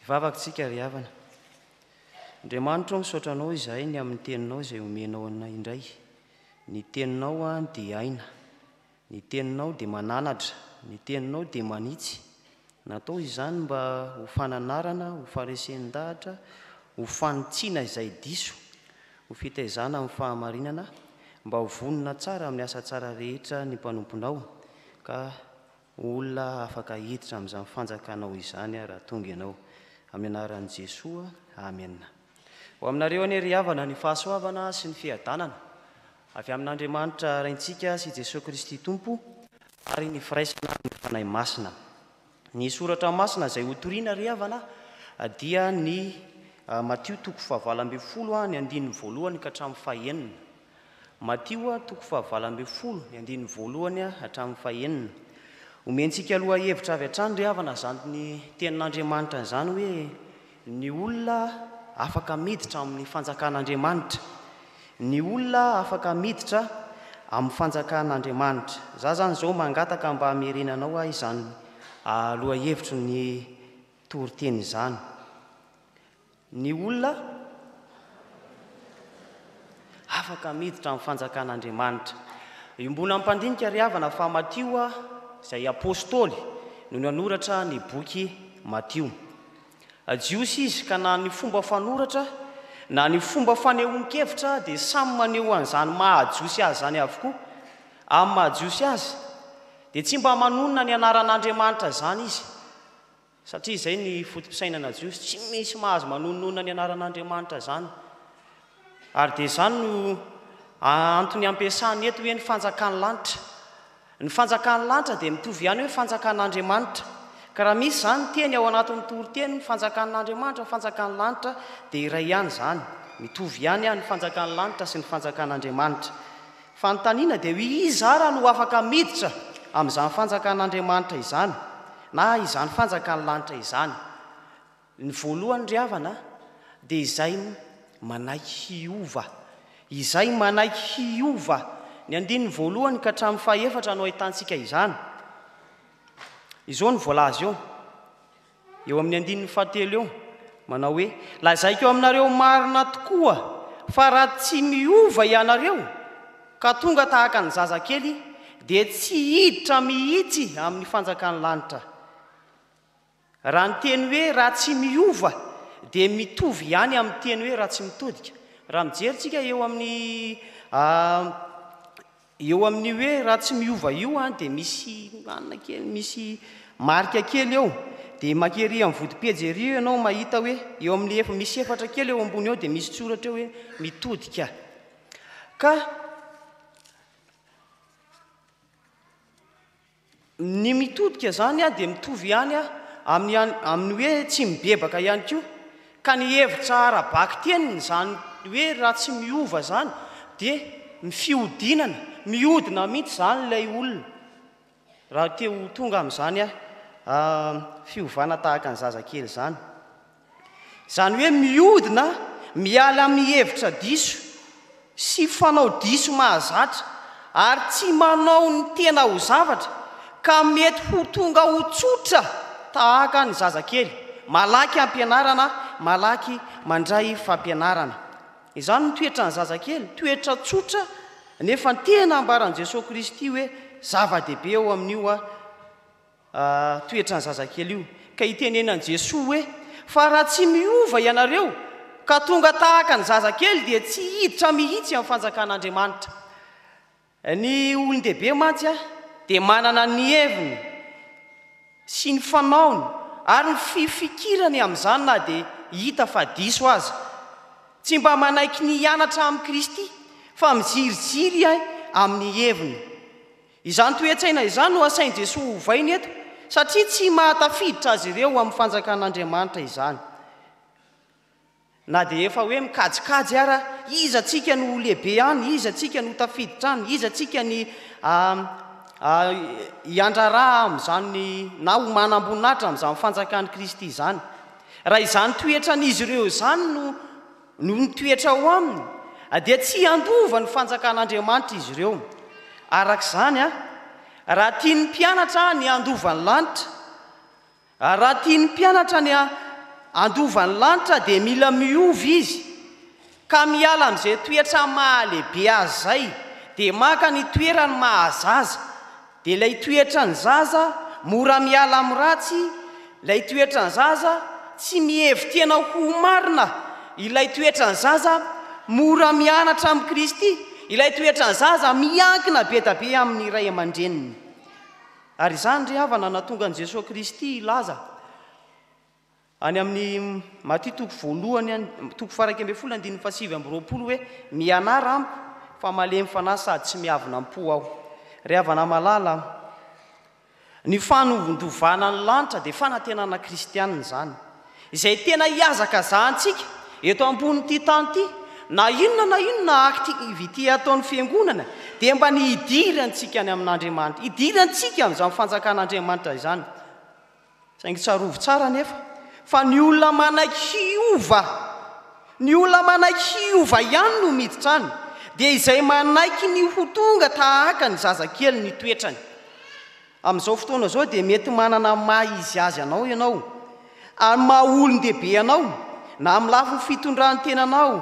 Hivavaka tsika ry havana. Andriamanitro misaotra anao izahay ny amin'ny teninao izay omenao anay indray. Ny teninao dia aina. Ny teninao dia mananatra, ny teninao dia manitsy. Natao izany mba ho fananarana, ho faresen-dahatra, ho fanitsiana izay diso, ho fitaizana amin'ny fahamarinana, mba ho vonona tsara amin'ny asa tsara rehetra ny mpanomponao, ka ho olona afaka hiditra amin'izany fanjakanao izany raha tonga ianao. Amin'ny anaran'i Jesoa, amena. Ho aminareo anie ry havana ny fahasoavana sy ny fiadanana avy amin'Andriamanitra Raintsika sy Jesoa Kristy Tompo ary ny firaisana amin'ny Fanahy Masina. Ny soratra masina izay hotorina ry havana dia ny Matio toko fahavalo ambin'ny folo ny andininy voalohany ka hatramin'ny fahenina. Matio toko fahavalo ambin'ny folo ny andininy voalohany hatramin'ny fahenina. Omentsika lohahevitra avy hatrany ry havana izany tenin'Andriamanitra izany hoe ny olona afaka miditra amin'ny fanjakan'Andriamanitra, ny olona afaka miditra amin'ny fanjakan'Andriamanitra. Za zany izao mangataka mba hamerenanao ahy izany lohahevitry ny toriteny izany. Ny olona afaka miditra amin'ny fanjakan'Andriamanitra. Io mbola mpandinika ry havana fa Matio izay apostoly no nanoratra ny boky Matio. Jiosy izy, ka na ny fomba fanoratra na ny fomba fanehoan-kevitra dia samy maneho an'izany maha-Jiosy azy izany avokoa. Amin'ny maha-Jiosy azy, dia tsy mba manonona ny anaran'Andriamanitra izany izy, satria izay ny foto-pisainana jiosy, tsy misy mahazo manononona ny anaran'Andriamanitra izany. Ary dia izany no antony ampiasany eto hoe ny fanjakan'ny lanitra. Ny fanjakan'ny lanitra dia mitovy ihany hoe fanjakan'Andriamanitra. Ka raha misy izany teny ao anatin'ny toriteny ny fanjakan'Andriamanitra, ny fanjakan'ny lanitra dia iray ihany izany. Mitovy ihany ny fanjakan'ny lanitra sy ny fanjakan'Andriamanitra. Fanontaniana dia hoe iza ara no afaka miditra amin'izany fanjakan'Andriamanitra izany na izany fanjakan'ny lanitra izany? Ny voalohany ry havana a, dia izay manaiky hiova, izay manaiky hiova, ny andininy voalohany ka hatramin'ny fahaefatra no ahitantsika izany. Izao no voalaza eo, eo amin'ny andininy fahatelo eo, manao hoe, Lazaiko aminareo marina tokoa fa raha tsy miova ianareo ka tonga tahaka ny zazakely dia tsy hiditra mihitsy amin'ny fanjakan'ny lanitra. Raha ny teny hoe raha tsy miova dia mitovy ihany amin'ny teny hoe raha tsy mitodika. Raha mijery tsika eo amin'ny eo amin'ny hoe raha tsy miova io an dia misy anona kely misy marika kely eo dia maka ery amin'ny vodipejy ery ianao mahita hoe eo amin'ny efa misy efatra kely eo ambony eo dia misy tsoratra eo hoe mitodika ka Ny mitodika izany dia mitovy ihany amin'ny hoe tsy mibebaka ihany koa. Ka ny hevitra ara-bakiteny izany hoe raha tsy miova izany dia mifiodinana, miodina mihitsy izany ilay olona, raha te ho tonga amin'izany fiovana tahaka ny zazakely izany. Izany hoe mihodina miala amin'ny hevitra diso sy fanao diso mahazatra ary tsy manao ny tena ho zavatra ka mety ho tonga ho tsotra tahaka ny zazakely, malaky ampianarana, malaky mandray fampianarana. Izany no toetran'ny zazakely, toetra tsotra nefa tena ambaran'i Jesoa Kristy hoe zava-dehibe ao amin'io Ahh toetran'ny zazakely io. Ka hitenenan'i Jesoa hoe, fa raha tsy miova ianareo ka tonga tahaka ny zazakely dia tsy hiditra mihitsy amin'ny fanjakan'Andriamanitra. Ny olon-dehibe mantsy dia manana ny heviny sy ny fanaony ary ny fifikirany amin'izany na dia hita fa diso aza. Tsy mba manaiky ny hianatra amin'i Kristy fa miziriziry amin'ny heviny. Izany toe-tsaina izany no asain'i Jesoa ovaina eto, satria tsy mahatafiditra azy ireo ho amin'ny fanjakan'Andriamanitra izany. Na dia efa hoe mikajikajy ara, iza tsika no ho lehibe any, iza tsika no ho tafiditra any, iza tsika ny hiandraraha amin'izany na ho manam-boninahitra amin'izany fanjakan'i Kristy izany. Raha izany toetran'izy ireo izany no. Noho ny toetra ao aminy, dia tsy handova ny Fanjakan'Andriamanitra izy ireo. Araka izany, raha tian'ny mpianatra ny handova ny lanitra, raha tian'ny mpianatra ny handova ny lanitra, dia mila miova izy, ka miala amin'izay toetra maha-lehibe azy izay, dia maka ny toerany maha-zaza. Dia ilay toetra ny zaza mora miala amin'ny ratsy, ilay toetra ny zaza tsy mihevi-tena ho marina, ilay toetra ny zaza mora mianatra amin'i Kristy, ilay toetra ny zaza miankina be dia be amin'ny ray aman-dreniny. Ary izany ry havana nahatonga an'i Jesoa Kristy hilaza. Any amin'ny Maty toko voalohany any, toko faharaika ambin'ny folo andininy fahasivy amby roapolo hoe, Mianara amiko, fa malemy fanahy sady tsy miavona am-po aho. Ry havana malala, ny fanondovana ny lanitra dia fanantenana kristiana izany, izay tena ihazakazahantsika eto ambonin'ity tany ity. Na inona na inona na activité ataon'ny Fiangonana dia mba ny hidirantsika any amin'Andriamanitra, hidirantsika amin'izany fanjakan'Andriamanitra izany. Saingy tsarovy tsara anefa fa ny olona manaiky hiova, ny olona manaiky hiova ihany no miditra any, dia izay manaiky ny ho tonga tahaka ny zazakely ny toetrany. Amin'izao fotoana izao dia mety manana ny maha izy azy anao ianao, amin'ny maha olon-dehibe anao, na amin'ny lafiny fitondran'ny tenanao,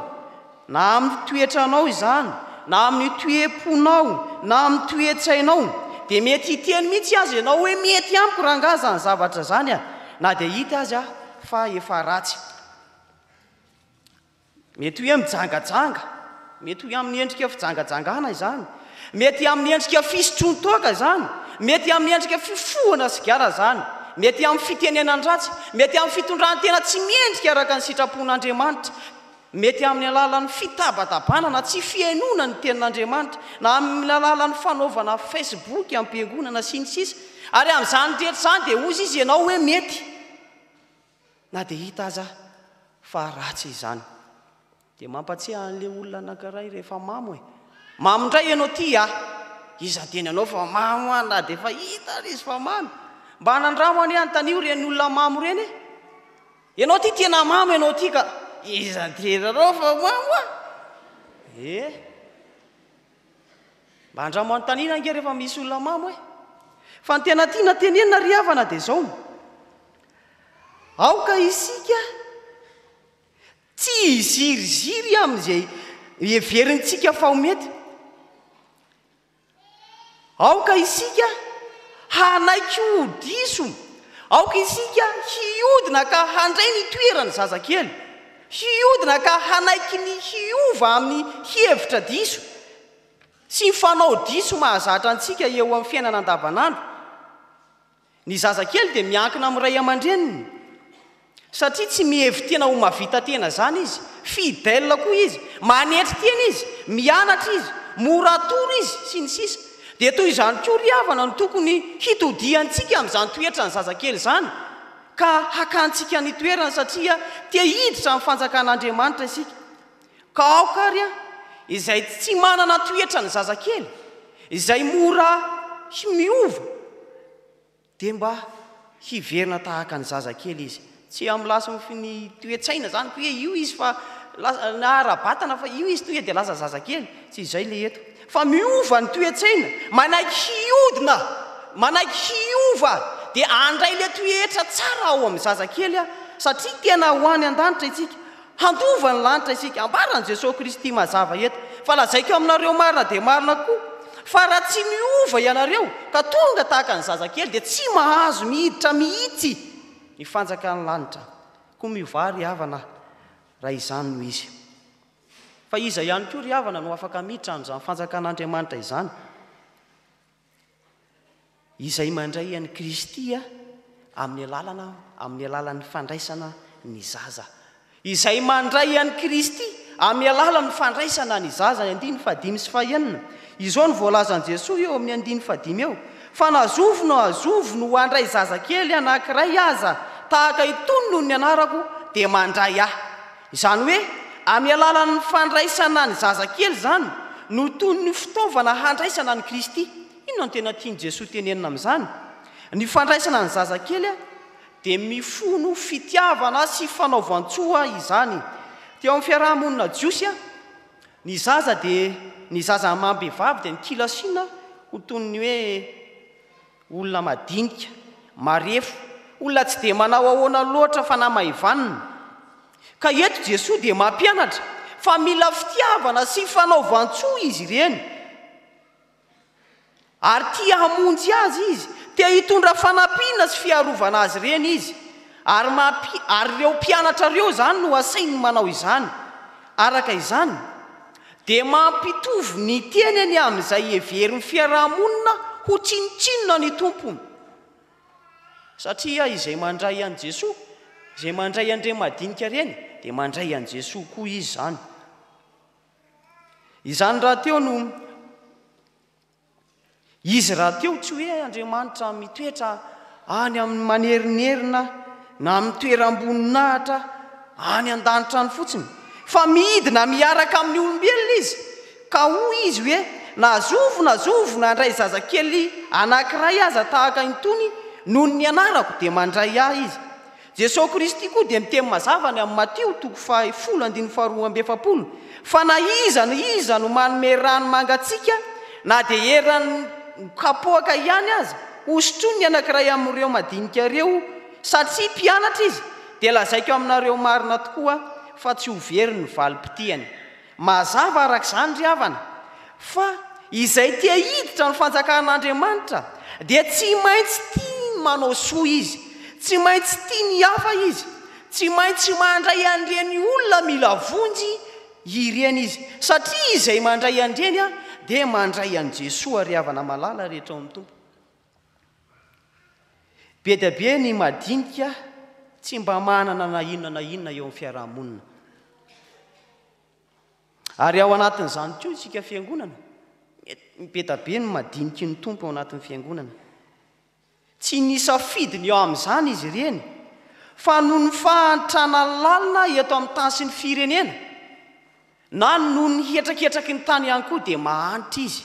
Na amin'ny toetranao izany, na amin'ny toe-ponao, na amin'ny toe-tsainao, dia mety hiteny mihitsy aza ianao hoe mety amiko rangaha izany zavatra izany a! na dia hita aza fa efa ratsy. Mety hoe mijangajanga, mety hoe amin'ny endrika fijangajangana izany, mety amin'ny endrika fisotroan-toaka izany, mety amin'ny endrika fifohana sigara izany, mety amin'ny fitenenan-dratsy, mety amin'ny fitondran-tena tsy mendrika araka ny sitrapon'Andriamanitra, Mety amin'ny alalan'ny fitabatabana na tsy fihainoana ny Tenin'Andriamanitra, na amin'ny alalan'ny fanaovana Facebook am-piangonana sy ny sisa Ary amin'izany rehetra izany dia hozy izy ianao hoe mety na dia hita aza fa ratsy izany. Dia mampatsiahy an'ilay olona anankiray rehefa mamo e! Mamo indray ianao ty a! Iza teny anao fa mamo an na dia efa hita ary izy fa mamy? Mba nandramo anie antanio ireny olona mamo ireny e! Ianao ity tena mamo ianao ity ka. Iza tena anao fa mamo a? Eh! Mba andramo anontaniana ange rehefa misy olona mamo e! Fa ny tena tiana tenenina ry havana dia izao no aoka isika tsy hiziriziry amin'izay heverintsika fa ho mety. Aoka isika hanaiky ho diso, aoka isika hiodina ka handray ny toeran'ny zazakely, hiodina ka hanaiky ny hiova amin'ny hevitra diso sy ny fanao diso mahazatra antsika eo amin'ny fiainana andavanandro. Ny zazakely dia miankina amin'ny ray aman-dreniny satria tsy mihevi-tena ho mahavita tena izany izy. Fidèle koa izy, manetry tena izy, mianatra izy, mora atoro izy, sy ny sisa Dia toy izany koa ry havana no tokony hitodihantsika amin'izany toetran'ny zazakely izany ka hakantsika ny toerany satria te hiditra amin'ny fanjakan'Andriamanitra isika. Ka aoka ary an, izay tsy manana toetra ny zazakely, izay mora hi miova, dia mba hiverina tahaka ny zazakely izy. Tsy amin'ny lasinfy ny toe-tsaina izany, hoe io izy fa lasa, na ara-batana fa io izy tonga dia lasa zazakely. Tsy izay ilay eto. Fa miova ny toe-tsaina, manaiky hiodina, manaiky hiova, dia handray ilay toetra tsara ao amin'ny zazakely an, satria tena ho any an-danitra isika. Handova ny lanitra isika. Ambaran'i Jesoa Kristy mazava eto, fa lazaiko aminareo marina dia marina koa, fa raha tsy miova ianareo, ka tonga tahaka ny zazakely, dia tsy mahazo mihiditra mihitsy ny fanjakan'ny lanitra. Koa miovà ry havana raha izany no izy. Fa iza ihany koa ry havana no afaka miditra amin'izany fanjakan'Andriamanitra izany? Izay mandray an'i Kristy amin'ny alalana amin'ny alalan'ny fandraisana ny zaza. Izay mandray an'i Kristy amin'ny alalan'ny fandraisana ny zaza, ny andininy fahadimy sy fahenina. Izao no voalazan'i Jesoa eo amin'ny andininy fahadimy eo, Fa na zovy na zovy no handray zazakely anankiray aza tahaka itony noho ny anarako dia mandray Ahy. Izany hoe amin'ny alalan'ny fandraisana ny zazakely izany no toy ny fitaovana handraisana an'i Kristy. Inona no tena tian'i Jesoa tenenina amin'izany? Ny fandraisana ny zazakely dia mifono fitiavana sy fanaovan-tsoa izany. Teo amin'ny fiaraha-monina jiosy, ny zaza dia ny zaza amam-behivavy dia nikilasiana ho toy ny hoe Olona madinika, marefo, olona tsy dia manao ahoana loatra fa nama ivanona. Ka eto Jesoa dia mampianatra fa mila fitiavana sy fanaovan-tsoa izy ireny. Ary tia hamonjy azy Izy, te hitondra fanampiana sy fiarovana azy ireny Izy. Ary ary ireo mpianatra ireo izany no asainy manao izany. Araka izany, dia mampitovy ny tenany amin'izay heverin'ny fiaraha-monina ho tsinontsinona ny tompony. Satria izay mandray an'i Jesoa, izay mandray an'ireny madinika ireny, dia mandray an'i Jesoa koa izy izany. Izany rahateo no. Izy rahateo tsy hoe Andriamanitra mitoetra any amin'ny manerinerina na amin'ny toeram-boninahitra any an-danitra any fotsiny, fa midina miaraka amin'ny olombelona Izy. Ka hoy Izy hoe, Na zovy na zovy nandray zazakely anankiray aza tahaka itony noho ny anarako, dia mandray Ahy izy. Jesosy Kristy koa dia miteny mazava any amin'ny Matio toko faha folo andininy faha roa amby efapolo fa na iza na iza no manome rano mangatsiaka na dia eran'ny kapoaka ihany aza hosotroin'ny anankiray amin'ireo madinika ireo satria mpianatra izy dia lazaiko aminareo marina tokoa fa tsy ho very ny valim-pitiany. Mazava araka izany, ry havana, fa izay tia hiditra ny fanjakan'Andriamanitra dia tsy maintsy tia ny manao soa izy, tsy maintsy tia ny hafa izy, tsy maintsy mandray an'ireny olona mila vonjy ireny izy, satria izay mandray an'ireny dia mandray an'i Jesoa, ry havana malala rehetra ao amin'ny Tompo. Be dia be ny madinika tsy mba manana na inona na inona eo amin'ny fiaraha-monina. Ary ao anatin'izany koa isika fiangonana, mipeta be ny madiniky ny Tompo ao anatin'ny fiangonana. Tsy nisafidy ny eo amin'izany izy ireny, fa noho ny fahantrana lalina eto amin'ny tany sy ny firenena, na noho ny hetraketraky ny tany ihany koa dia mahantra izy,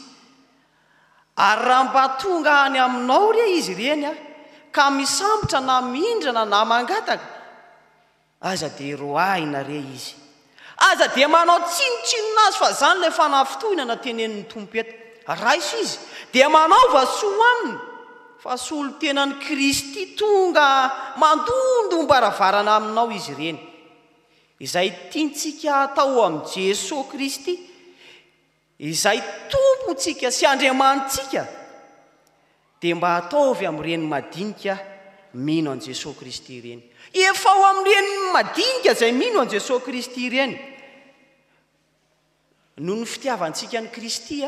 Ary raha mba tonga any aminao re izy ireny ka misambotra na mindrana na mangataka, aza dia roahina re izy. Aza dia manao tsinontsinona azy fa izany ilay fanafitohinana tenenin'ny Tompo eto. Raiso izy, dia manaova soa aminy, fa solontenan'i Kristy tonga mandondom-baravarana aminao izy ireny. Izay tiantsika hatao amin'i Jesoa Kristy Izay Tompontsika sy Andriamanitsika dia mba ataovy amin'ireny madinika mino an'i Jesoa Kristy ireny. Efa ao amin'ireny madinika izay mino an'i Jesoa Kristy ireny noho ny fitiavantsika an'i Kristy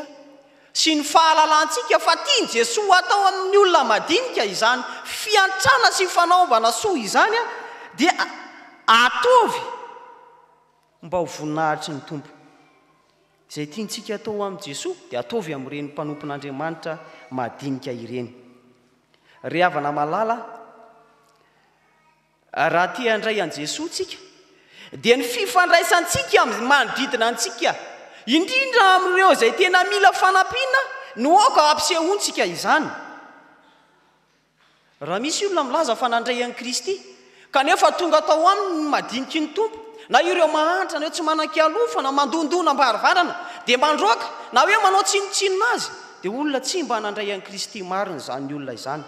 sy ny fahalalantsika fa tian'i Jesoa hatao amin'ny olona madinika izany fiantrana sy fanaovana soa izany dia ataovy Mba ho voninahitry ny Tompo. Izay tiantsika atao ho amin'i Jesoa dia ataovy amin'ireny mpanompon'Andriamanitra madinika ireny. Ry havana malala a, raha te handray an'i Jesoa isika dia ny fifandraisantsika amin'ny manodidina antsika, indrindra amin'ireo izay tena mila fanampiana no aoka hampisehoantsika izany. Raha misy olona milaza fa nandray an'i Kristy, kanefa tonga tao aminy ny madiniky ny Tompo, na ireo mahantra, na ireo tsy manan-kialofana, mandondona am-baravarana, dia mandroaka, na hoe manao tsinontsinona azy, dia olona tsy mba nandray an'i Kristy marina izany olona izany.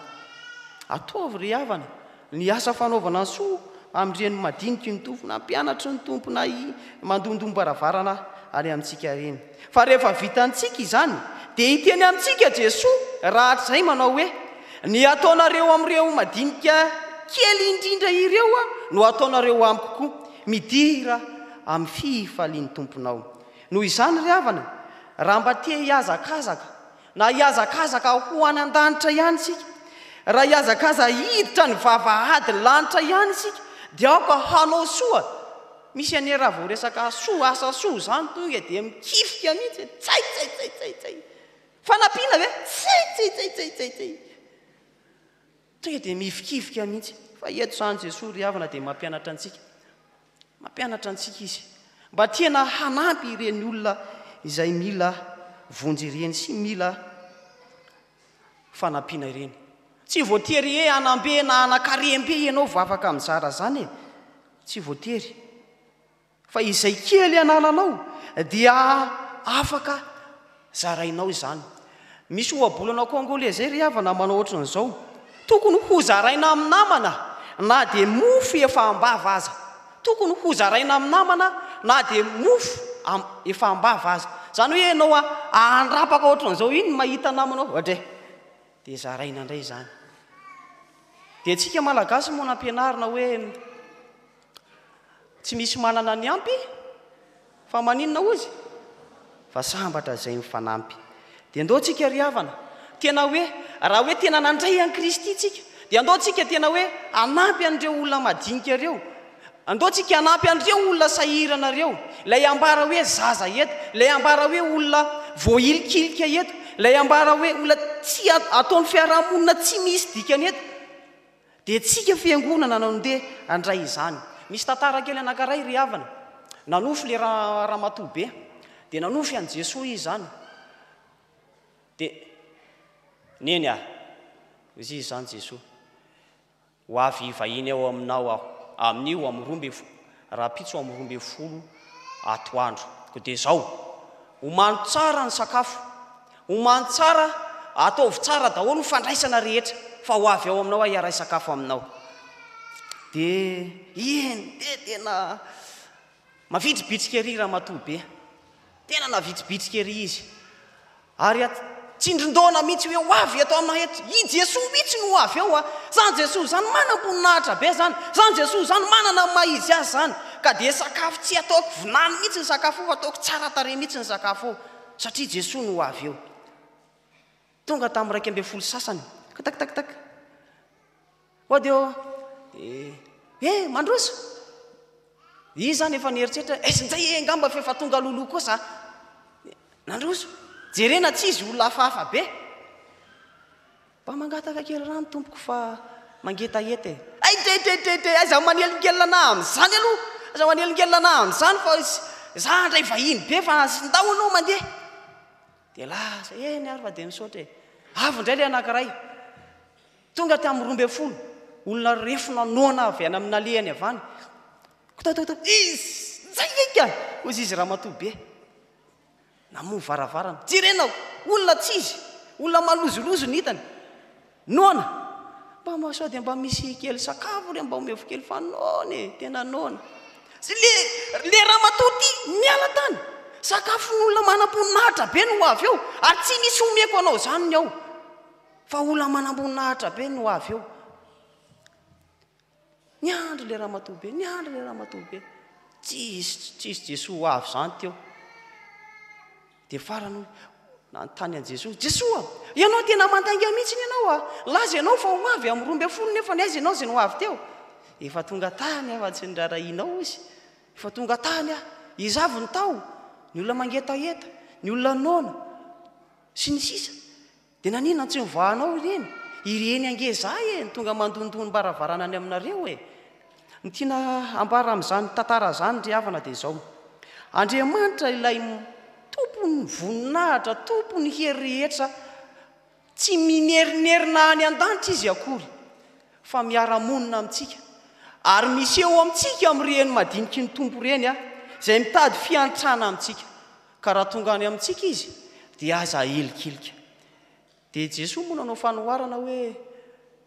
Ataovy, ry havana, ny asa fanaovana soa amin'ireny madiniky ny Tompo, na mpianatry ny Tompo, na mandondom-baravarana any amintsika ireny. Fa rehefa vitantsika izany, dia hiteny amintsika Jesoa rahatrizay manao hoe, Ny ataonareo amin'ireo madinika kely indrindra ireo no ataonareo amiko koa. Midira amin'ny fifalian'ny Tomponao. Noho izany ry havana, raha mba te-hihazakazaka, Na hihazakazaka ho any an-danitra ihany isika, raha hihazakaza hiditra ny vavahadin'ny lanitra ihany isika, dia aoka hanao soa, misy anie raha vao resaka soa, asa soa izany tonga dia mikifika mihitsy hoe tsay, tsay, tsay, tsay, tsay, fanampiana ve? Tsay, tsay, tsay, tsay, tsay, tsay. Tonga dia mihivikivika mihitsy. Fa eto izany Jesoa ry havana dia mampianatra antsika. Mampianatra antsika Izy. Mba tena hanampy ireny olona izay mila vonjy ireny sy mila fanampiana ireny. Tsy voatery hoe hanam-be na hanan-karem-be ianao vao afaka mizara izany e. Tsy voatery. Fa izay kely anananao dia afaka zarainao izany. Misy ohabolana kongolezey ry havana manao ohatran'izao, tokony hozaraina amin'ny namana na dia mofo efa am-bava aza. Tokony hozaraina amin'ny namana na dia mofo am, efa am-bava aza. Izany hoe ianao ahandrapaka ohatran'izao iny mahita namanao, ohatry e, dia zaraina indray izany. Dia antsika Malagasy moa nampianarina hoe Tsy misy manana ny ampy fa maninona hoy izy fa sambatra izay mifanampy. Dia ndao tsika ry havana tena hoe raha hoe tena nandray an'i Kristy tsika dia ndao tsika tena hoe hanampy an'ireo olona madinika ireo, ndao tsika hanampy an'ireo olona sahirana ireo, ilay ambara hoe zaza eto, ilay ambara hoe olona voahilikilika eto, ilay ambara hoe olona tsy ataon'ny fiarahamonina tsy misy dikany eto. Dia tsika fiangonana no ndeha handray izany. Misy tantara kely anankiray ry havana. Nanofy ilay ramatoa be. Dia nanofy an'i Jesoa izy izany. Dia, Neny a! hoy izy izany Jesoa. Ho avy hivahiny ao aminao aho, amin'io amin'ny roa ambin'ny folo, rahampitso amin'ny roa ambin'ny folo atoandro. Koa dia izao, omano tsara ny sakafo, omano tsara, ataovy tsara daholo ny fandraisana rehetra, fa ho avy ao aminao aho hiaray sakafo aminao. Dia eny, dia tena mavitribitrika ery ramatoa be. Tena navitsibitsika ery izy. Ary at, tsindrin-doana mihitsy hoe, Ho avy eto aminay eto. I Jesoa mihitsy no ho avy eo an! Izany Jesoa izany manam-boninahitra be izany! Izany Jesoa izany manana ny maha Izy Azy izany! Ka dia sakafo tsy ataoko vinany mihitsy ny sakafo io fa ataoko tsara tarehy mihitsy ny sakafo io, satria Jesoa no ho avy eo. Tonga tamin'ny iraika ambin'ny folo sasany. Ktak-tak-tak. Mody ô! Eh! Eh! Mandroso! Izy izany efa nieritreritra hoe aiza indray eh angamba f'efa tonga loloha koa za. Nandroso! Jerena tsy izy olona hafahafa be. Mba mangataka kely rano tompoko fa mangetaheta e! Hay te te te te aiza manelingelina anah amin'izany aloha! Aiza manelingelina anah amin'izany fa za handray vahiny be fa ndao aloha mandeha. Dia lasa, eny ary fa dia misaotra e! Avy indray ilay anankiray. Tonga tamin'ny roa ambin'ny folo olona refo nanohana avy any amin'ny alehany havany. Kotototoo! Izy! Njaingainga! hoy izy izy ramatoa be. Namoha varavarana. Jerena! Olona tsy izy! Olona malozolozo ny hitany. Noana! Mba ma sao dia mba misy kely sakafo re mba omevo kely fa noana e! Tena noana. Sy le, le ramatoa ty miala tany! Sakafon'olona manam-poninahitra be no ho avy eo ary tsy misy omeko anao izany ny ao. Fa olona manamboninahitra be no avy eo. Niandry ilay ramatoa be, niandry ilay ramatoa be. Tsisy, tsisy Jesoa ho avy izany teo. Dia farany nanontany an'i Jesoa, Jesoa, ianao tena mandainga mihitsy ny ianao a. Laza ianao fa ho avy amin'ny roa ambin'ny folo nefa ny aiza ianao izay no avy teo. Efa tonga tany aho fa tsy nirarahianao izy. Efa tonga tany aho. Iza avy ny tao? Ny olona mangetaheta, ny olona noana, sy ny sisa. Dia naninona tsy nivahanao ireny? Ireny ange zah e, ny tonga mandondony mbaravarana any aminareo e. Ny tiana hambara amin'izany tantara izany ry havana dia izao, Andriamanitra ilay tompon'ny voninahitra, tompon'ny hery rehetra, tsy minerinerina any an-danitra izy akory fa miara-monina amintsika. Ary miseho amintsika amin'ireny madiniky ny Tompo ireny, izay mitady fiantrana amintsika. Ka raha tonga any amintsika izy dia aza ahilikilika. Dia Jesoa moa nanao fanoharana hoe,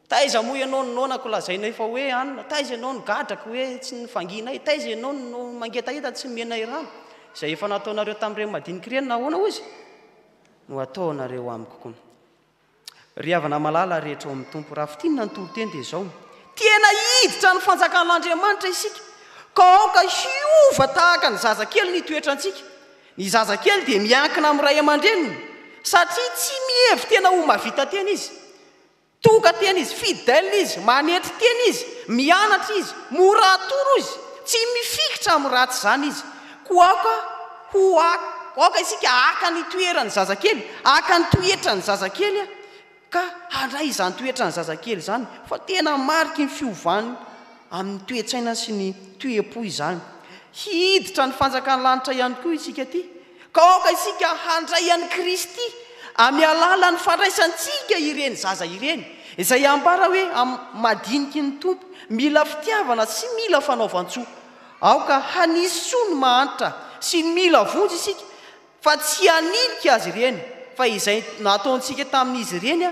Taiza moa ianao no noanako lazainay fa hoe anona? Taiza ianao no gadrako hoe tsy nivangianay? Taiza ianao no mangetaheta tsy nomenay rano? Izay efa nataonareo tamin'ireny madinika ireny nahoana hozy no ataonareo amiko koa? Ry havana malala rehetra ao amin'ny Tompo, raha fintinina ny toriteny dia izao, Tena hiditra ny fanjakan'Andriamanitra isika, ka aoka hiova tahaka ny zazakely ny toetrantsika. Ny zazakely dia miankina amin'ny ray aman-dreniny, satria tsy mihevi-tena ho mahavita tena izy. Toka tena izy, fidèle izy, manetry tena izy, mianatra izy, mora atoro izy, tsy mifikitra amin'ny ratsy izany izy. Koa aoka ho hak, aoka isika haka ny toeran'ny zazakely, haka ny toetran'ny zazakely, ka handray izany toetran'ny zazakely izany, fa tena mariky ny fiovany amin'ny toe-tsaina sy ny toe-po izany. Hiditra ny fanjakan'ny lanitra ihany koa isika ity, ka aoka isika handray an'i Kristy amin'ny alalan'ny fandraisantsika ireny zaza ireny, izay ambara hoe amin'ny madiniky ny Tompo, mila fitiavana sy mila fanaovan-tsoa. Aoka hanisy soa ny mahantra sy ny mila vonjy isika fa tsy haninika azy ireny, fa izay nataontsika tamin'izy ireny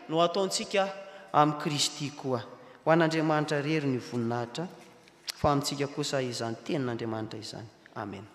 no hataontsika amin'i Kristy koa. Ho an'Andriamanitra irery ny voninahitra, fa amintsika kosa izany tenin'Andriamanitra izany. Amena.